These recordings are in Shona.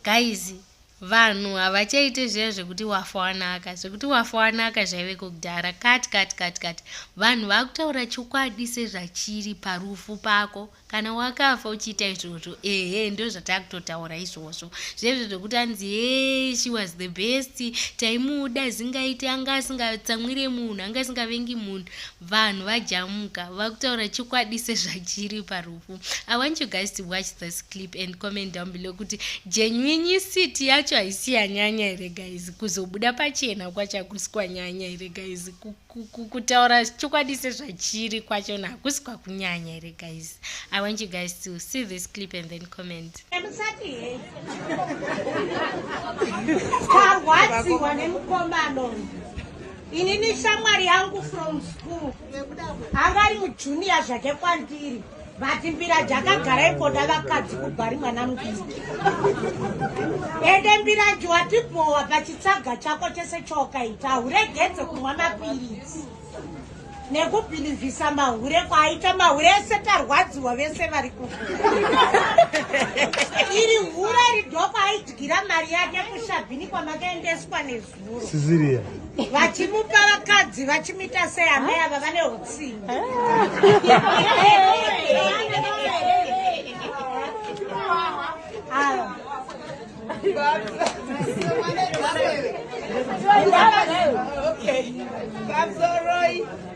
guys vanhu havachaite zviya zvekuti wafa wanaka zvekuti wafa wanaka zvaiveko kudhara kati kati kati kati vanhu vakutaura chokwadi sezvachiri parufu pako kana wakafa uchiita izvozvo ehe ndozvatakutotaura izvozvo zvezvo zvekuti anzi hee she was the best taimuda zingaite anga asingatsamwire munhu anga asingavengi munhu vanhu vajamuka vakutaura chokwadi sezvachiri parufu i want you guys to watch this clip and comment down below kuti genuini city yacho haisi yanyanya here guys kuzobuda pachena kwachakusi kwanyanya here guys kutaura chokwadi sezvachiri kwacho na hakusi kwakunyanya here guys i want you guys to see this clip and then comment inini shamwari yangu from school angari mujunior zvake kwandiri vati mbira jakagara ikoda vakadzi kubhari mwana mudiki ende mbiranji watibhowa pachitsaga chako chese chokaita huregedze kumwa mapiritsi nekubhilivhisa mahure kwaaita mahure ese tarwadziwa vese vari ku iri hure ridoko aidyira mari yake kushabhini kwamakaendeswa nesu Sisiria. Vachimupa vakadzi vachimita sei amai ava vane hutsinga. Okay. Babzoroi.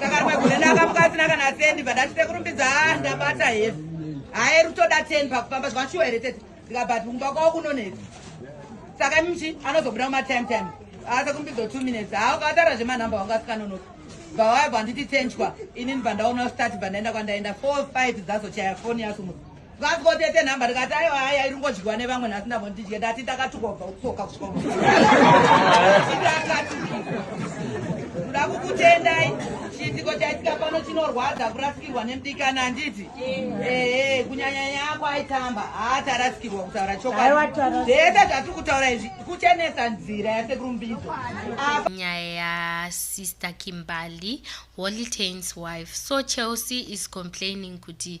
Takarwegune ndakamuka asina kana sendi bada chitekurumbidza ah, ndabata hevi. Hayi rutoda 10 pakufamba zvashuwa here tete. Ndikabati kumba kwawo kunonetsa. Saka mchi anozobuda kuma time time. Asa kumbidzo 2 minutes. Hawo katara zvema number wanga sikanonoka. Bawaya banditi tenjwa. Ini ndibandaona start bandaenda kwandaenda 4 5 zazo chaya phone yasu. Vakati ko tete nhamba ndikati aiwa hai airingodyiwa nevamwe nhasi ndambo ndidye ndati ndakatukwa kubva kutsoka kusvika ndakati kuda kukutendai chiitiko chaitika pano chinorwadza kurasikirwa nemudikana handiti ehe kunyanya yako aitamba haatarasikirwa kutaura chokwazvese zvatiri kutaura izvi kuchenesa nzira yasekurumbidzo nyaya yasister kimbali holy tains wife so chelsea is complaining kuti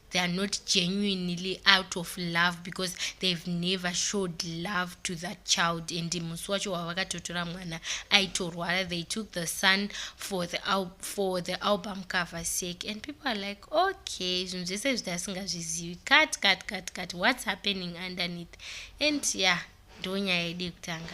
they are not genuinely out of love because they've never showed love to that child and musi wacho wavakatotora mwana aitorwara they took the son for the, for the album cover sake and people are like okay zvinhu zvese zvita asingazvizivi cut cut cut cut what's happening underneath and ya yeah, ndonyaya yedu yekutanga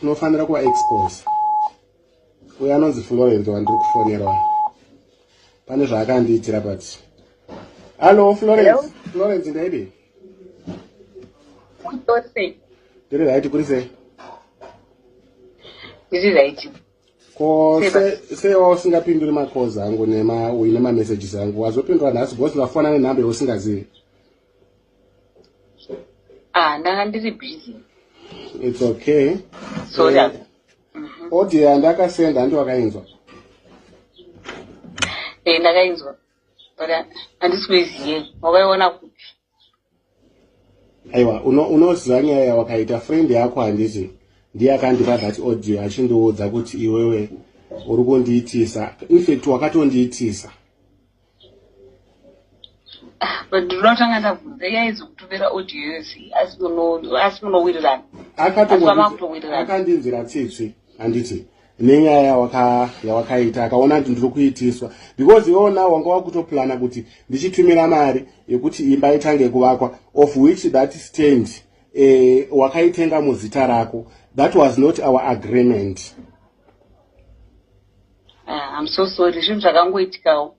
tinofanira kuva expose uye anonzi funga venzi wandiri kufonerwa pane zvaakandiitira but hallo florence florence ndaidi ndiri raiti kuri sei ndiri raiti ko sewa usingapinduri macalls angu nema uine mamessages angu wazopindura nhasi because vafona nenhambe usingazivi ah ndanga ndiri busy it's okay sorry eh, mhm. audio yandakasenda handi wakainzwa eh ndakainzwa but uh, handisi kuiziye wakaiona kupi aiwa unoziva nyaya yawakaita friend yako handiti ndiye akandipa that audio achindiudza kuti iwewe uri kundiitisa infact wakatondiitisa Ah, but ndinoda kutanga ndabvunza iye aizokutumira audio yose asi muno- asi munowirirana Akatokutowirirana. akandinzwira tsitsi handiti nenyaya yawaka- yawakaita akaona kuti ndiri kuitiswa because iwewo nawo wanga wakutoplana kuti ndichitumira mari yekuti imba itange kuvakwa of which that stand eh, wakaitenga muzita rako that was not our agreement Ah, I'm so sorry zvinhu zvakangoitikawo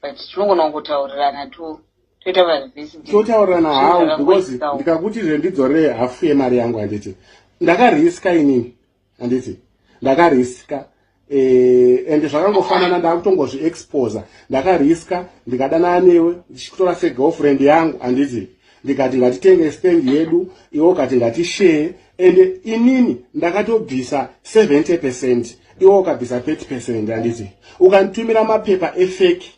but tinogona kutaurirana to toita varivhesi totaurirana hawo because ndikakuti zve ndidzore hafu yemari yangu handiti ndakariska inini handiti ndakariska eh, ende zvakangofanana ndakutongozviexposa ndakariska ndikadanana newe ndichikutora segirlfriend yangu handiti ndikati ngatitenge stand yedu iwo ukati ngatishare and inini ndakatobvisa 70 percent iwo ukabvisa 30 percent anditi ukanditumira mapepa efeki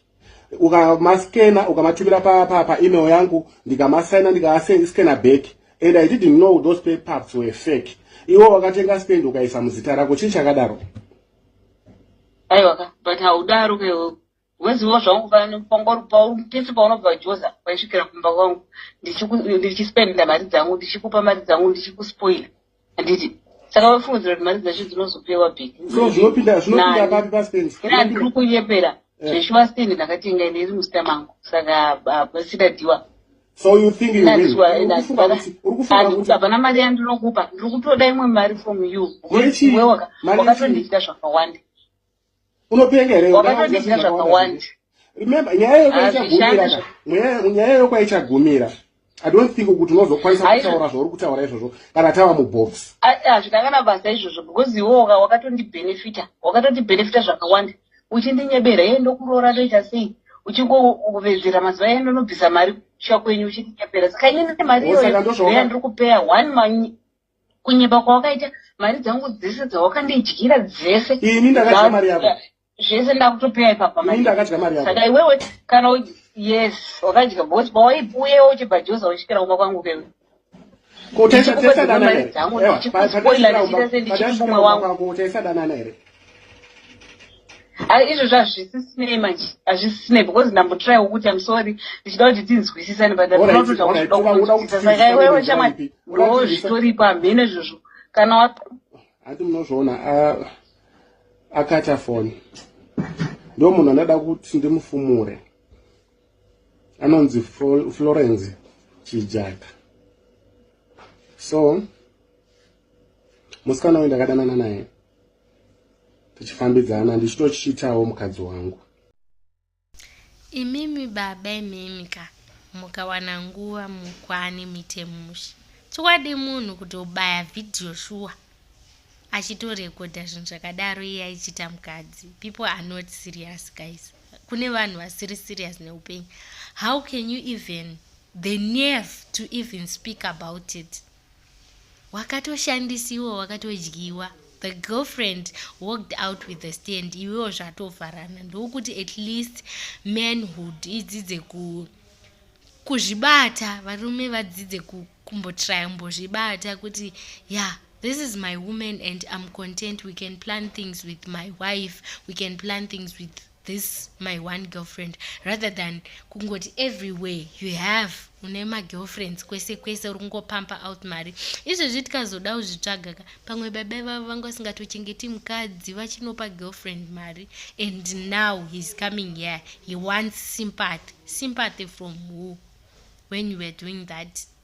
ukamaskena ukamatumira paemail pa, pa yangu ndikamasaina ndikaaskena back and i didn't know those papups were fake iwo wakatenga stand ukaisa muzita rako chii chakadaro aiwaka but haudaro kewo wezivo zvangu pano pangori pese paunobva joza paisvikira kumba kwangu ndichispenda mari dzangu ndichikupa mari dzangu ndichikuspoila handiti saka vafunzira kuti mari dzacho dzinozopewa bhekndiri kunyepera eh. zveshuwa stend ndakatenga ine iri musita mangu saka pasida diwa hapana mari yandinokupa ndiri kutoda imwe mari from you wakatondidya zvakawanda unopenga here wakatodinga zvakawanda remember nyaya yokwaichagumira nyaya yokwaichagumira i don't think kuti unozokwanisa kutaura zvauri kutaura izvozvo kana tava mubox hazvina kana basa izvozvo because iwo wakatondibhenefita wakatondibhenefita zvakawanda uchindinyebera ye ndokuroora toita sei uchingovezera mazuva ye ndonobvisa mari kusha kwenyu uchindinyebera saka ini nemari iyoyo yandiri kupeya one kunyepa kwawakaita mari dzangu dzese dzawakandidyira dzese ini ndakadya mari yako zvese ndakutopeya ipapa ini ndakadya mari yako saka iwewe kana yes wakadya bos pawaipuyewo uchibva joza uchikira kumba kwangu kewe kotaisadanana here izvozvo hazvisisinei manje hazvisisinei because ndambotraiwo kuti am sorry ndichida kuti tinzwisisane butnotodakuiwewe chamwari ndoo zvitoripo hamheno izvozvo kana handi munozviona akata foni ndo munhu anada kuti ndimufumure anonzi florence chijaka so musikana uyu ndakadanana naye tichifambidzana ndichitochiitawo mukadzi wangu imimi baba imimi ka mukawana nguva mukwane muite mushe chokwadi munhu kuti ubaya vhidhiyo shuwa achitorekodha zvinhu zvakadaro iye aichiita mukadzi people are not serious guys kune vanhu vasiri serious neupenyu how can you even the nerve to even speak about it wakatoshandisiwa wakatodyiwa the girlfriend walked out with the stand iwewo zvatovharana ndokuti at least manhood idzidze ku kuzvibata varume vadzidze kumbotraya kumbozvibata kuti ya yeah, this is my woman and i'm content we can plan things with my wife we can plan things with this my one girlfriend rather than kungoti everywhere you have une magirlfriends kwese kwese uri kungopampa out mari izvezvi tikazoda kuzvitsvaga ka pamwe baba ivavo vanga vasingatochengeti mukadzi vachinopa girlfriend mari and now heis coming here he wants sympathy sympathy from who when you were doing that